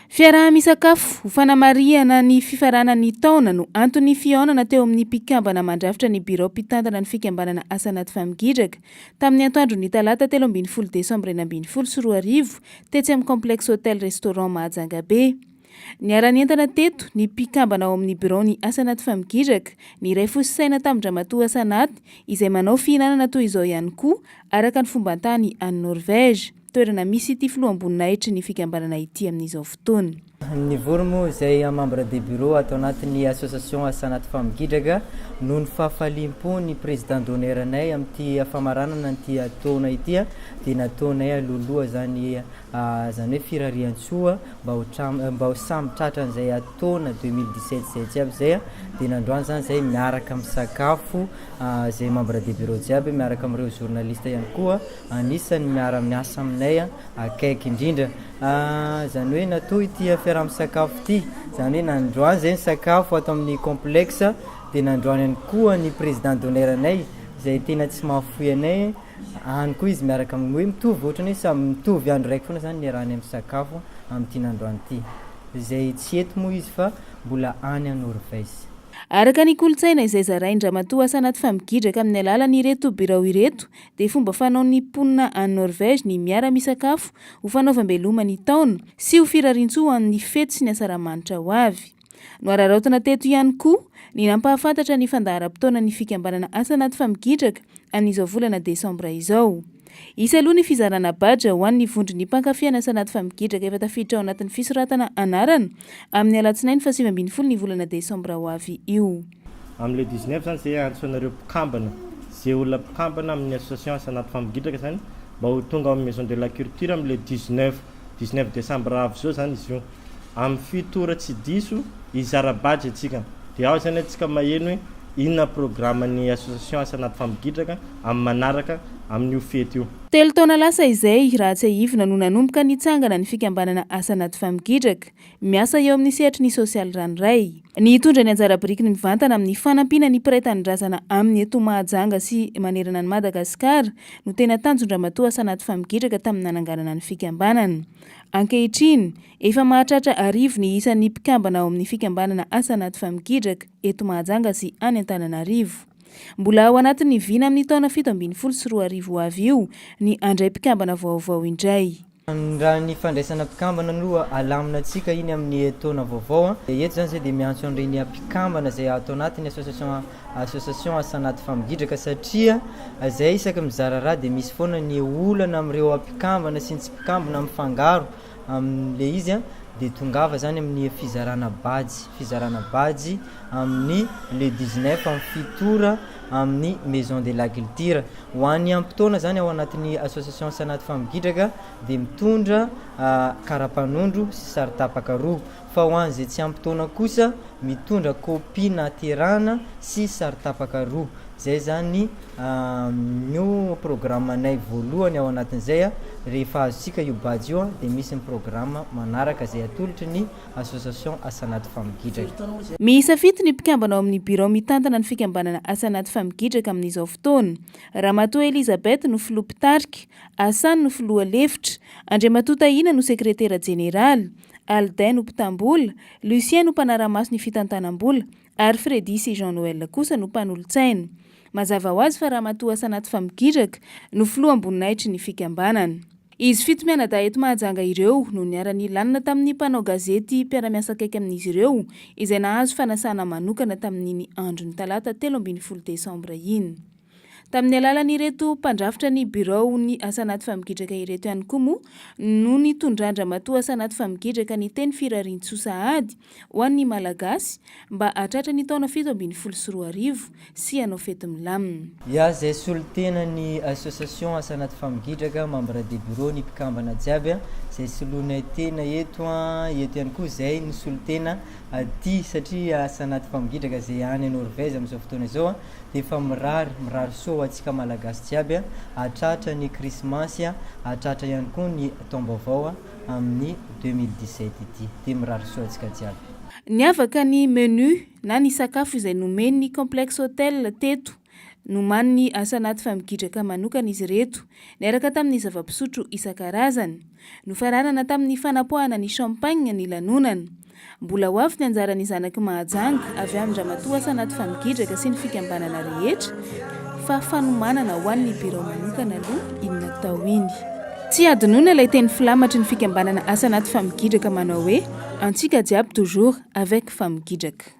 Fiaraha-misakafo ho fanamarihana ny fifaranan'ny taona no anton'ny fihaonana teo amin'ny mpikambana mandrafitra ny birao mpitantana ny fikambanana Asa Anaty Famigidraka tamin'ny antoandron'ny talata telo ambin'ny folo desambra enina ambin'ny folo sy roa arivo tetsy amin'ny Complexe Hotel Restaurant Mahajangabe. Niara-nientana teto ny mpikambana ao amin'ny biraon'ny Asa Anaty Famigidraka, ny iray fo sy saina tamin-dRamatoa Asa Anaty izay manao fihinanana toy izao ihany koa araka ny fomban-tany any Norvège. toerana misy ity filoham-boninahitry ny fikambanana ity amin'izao fotoana. Nivory moa izay membre de bureau ato anatin'ny association Asanat Femmes Gidraga noho ny fahafaliam-po ny président d'honneur-nay amin'ity famaranana an'ity taona ity dia nataonay alohaloha izany izany hoe firarian-tsoa mba ho mba ho samy tratra an'izay taona deux mille dix sept izay jiaby izay dia nandroany izany izay miaraka misakafo izay membre de bureau jiaby miaraka amin'ireo journaliste ihany koa Anisan'ny miara-miasa aminay akaiky indrindra izany hoe natoa ity fiaraha-misakafo ity, izany hoe nandroany izay ny sakafo ato amin'ny complexe dia nandroany ihany koa ny président d'honneur anay izay tena tsy mahafoy anay, any koa izy miaraka amin'ny hoe mitovy ohatran'ny hoe samy mitovy andro raiky foana izany niarahanay misakafo amin'ity nandroany ity izay tsy eto moa izy fa mbola any à Norvège. Araka ny kolontsaina izay zarain-dRamatoa Asanat Famigidraka amin'ny alalan'ireto birao ireto dia fomba fanaon'ny mponina any Norvège ny miara-misakafo ho fanaovam-beloma ny taona sy ho firariantsoa ho an'ny fety sy ny asaramanitra ho avy. Nohararaotina teto ihany koa ny nampahafantatra ny fandaharam-potoanan'ny fikambanana Asa Anaty Famigidraka amin'izao volana desambra izao. Hisy aloha ny fizarana badge ho an'ny vondron'ny mpankafy an'i Asa Anaty Famigidraka efa tafiditra ao anatin'ny fisoratana anarana amin'ny alatsinainy fahasivy ambin'ny folo ny volana desambra ho avy io. Amin'ny le 19 zany ze antso anareo mpikambana, ze olona mpikambana amin'ny association asa anaty fampigidraka zany mba ho tonga ao amin'ny maison de la culture amin'ny le 19, 19 décembre avy zao zany izy io. Amin'ny fito ora tsy diso hizara badge antsika de ao zany antsika maheno hoe inona programme ny association asa anaty fampigidraka amin'ny manaraka amin'io fety io. Telo taona lasa izay, raha tsiahivina no nanomboka nitsangana ny fikambanana asa anaty fampigidraka. miasa eo amin'ny sehatry ny sosialy ranoray. Ny hitondra ny anjara birikiny mivantana amin'ny fanampiana ny mpiray tanindrazana aminy eto Mahajanga sy manerana an'i Madagasikara no tena tanjon-dRamatoa Asanaty Famigidraka tamin'ny nananganana ny fikambanana. Ankehitriny, efa mahatratra arivo ny isan'ny mpikambana ao amin'ny fikambanana Asanaty Famigidraka eto Mahajanga sy any Antananarivo. Mbola ao anatin'ny vina amin'ny taona fito ambin'ny folo sy roa arivo ho avy io ny handray mpikambana vaovao indray. Raha ny fandraisana mpikambana aloha alamina antsika iny amin'ny taona vaovao dia eto izany izay dia miantso an'ireny mpikambana izay ato anatin'ny association association asa anaty famingidraka satria izay isaky mizara raha dia misy foana ny olana amin'ireo mpikambana sy ny tsy mpikambana mifangaro amin'ilay izy an dia tongava izany amin'ny fizarana badge fizarana badge amin'ny le 19 amin'ny fito ora amin'ny Maison de l'Agilture. Ho any amin'ny fotoana izany ao anatin'ny Association Sanat Femmes Gidraka dia mitondra karapanondro sy saro-tapaka roa, fa ho an'izay tsy ampy taona kosa mitondra kopia naterana sy saro-tapaka roa. Izay izany no programanay voalohany ao anatin'izay, rehefa azontsika io badge io dia misy ny programa manaraka izay atolotry ny Association Asa Anaty Famigidraka. Miisa fito ny mpikambana ao amin'ny birao mitantana ny fikambanana Asa Anaty Famigidraka amin'izao fotoana. Ramatoa Elizabeth no filoha mpitarika, Hassan no filoha lefitra, Andriamatoa Tahina no sekretera jeneraly, Aldin no mpitam-bola, Lucien no mpanara-maso ny fitantanam-bola, Ary Freddy sy Jean Noël kosa no mpanolotsaina. Mazava ho azy fa Ramatoa Asanaty Famigidraka no filoham-boninahitry ny fikambanana. Izy fito mianadahy eto Mahajanga ireo no niara-nilanona tamin'ny mpanao gazety mpiara-miasa akaiky amin'izy ireo izay nahazo fanasana manokana tamin'iny andron'ny talata telo ambin'ny folo desambra iny. Tamin'ny alalan'ireto mpandrafitra ny biraon'ny asa anaty famigidraka ireto ihany koa moa no nitondran-dramatoa asa anaty famigidraka ny teny firariantsoa sahady ho an'ny Malagasy mba hahatratra ny taona fito ambin'ny folo sy roa arivo sy hanao fety milamina. Ya izay solontenan'ny association asa anaty famigidraka, membre de bureau ny mpikambana jiaby an, izay soloinay tena eto an, eto ihany koa izay no solontena aty satria asa anaty famigidraka izay any Norvège amin'izao fotoana izao an, Efa mirary, mirary soa ho antsika Malagasy jiaby a! Hahatratra ny Krismasy a! Hahatratra ihany koa ny taom-baovao a! Amin'ny deux mille dix sept ity. Dia mirary soa antsika jiaby. Niavaka ny menu na ny sakafo izay nomen'ny Complexe Hotel teto. Nomanin'ny asa anaty famigidraka manokana izy ireto, niaraka tamin'ny zava-pisotro isan-karazany. Nofararana tamin'ny fanapoahana ny champagne ny lanonana. Mbola ho avy ny anjaran'ny zanaky Mahajanga avy amin-dRamatoa Asanaty Famigidraka sy ny fikambanana rehetra fa fanomanana ho an'ny birao manokana aloha iny natao iny. Tsy hadinoina ilay teny filamatry ny fikambanana Asanaty Famigidraka manao hoe antsika jiaby toujours avec Famigidraka.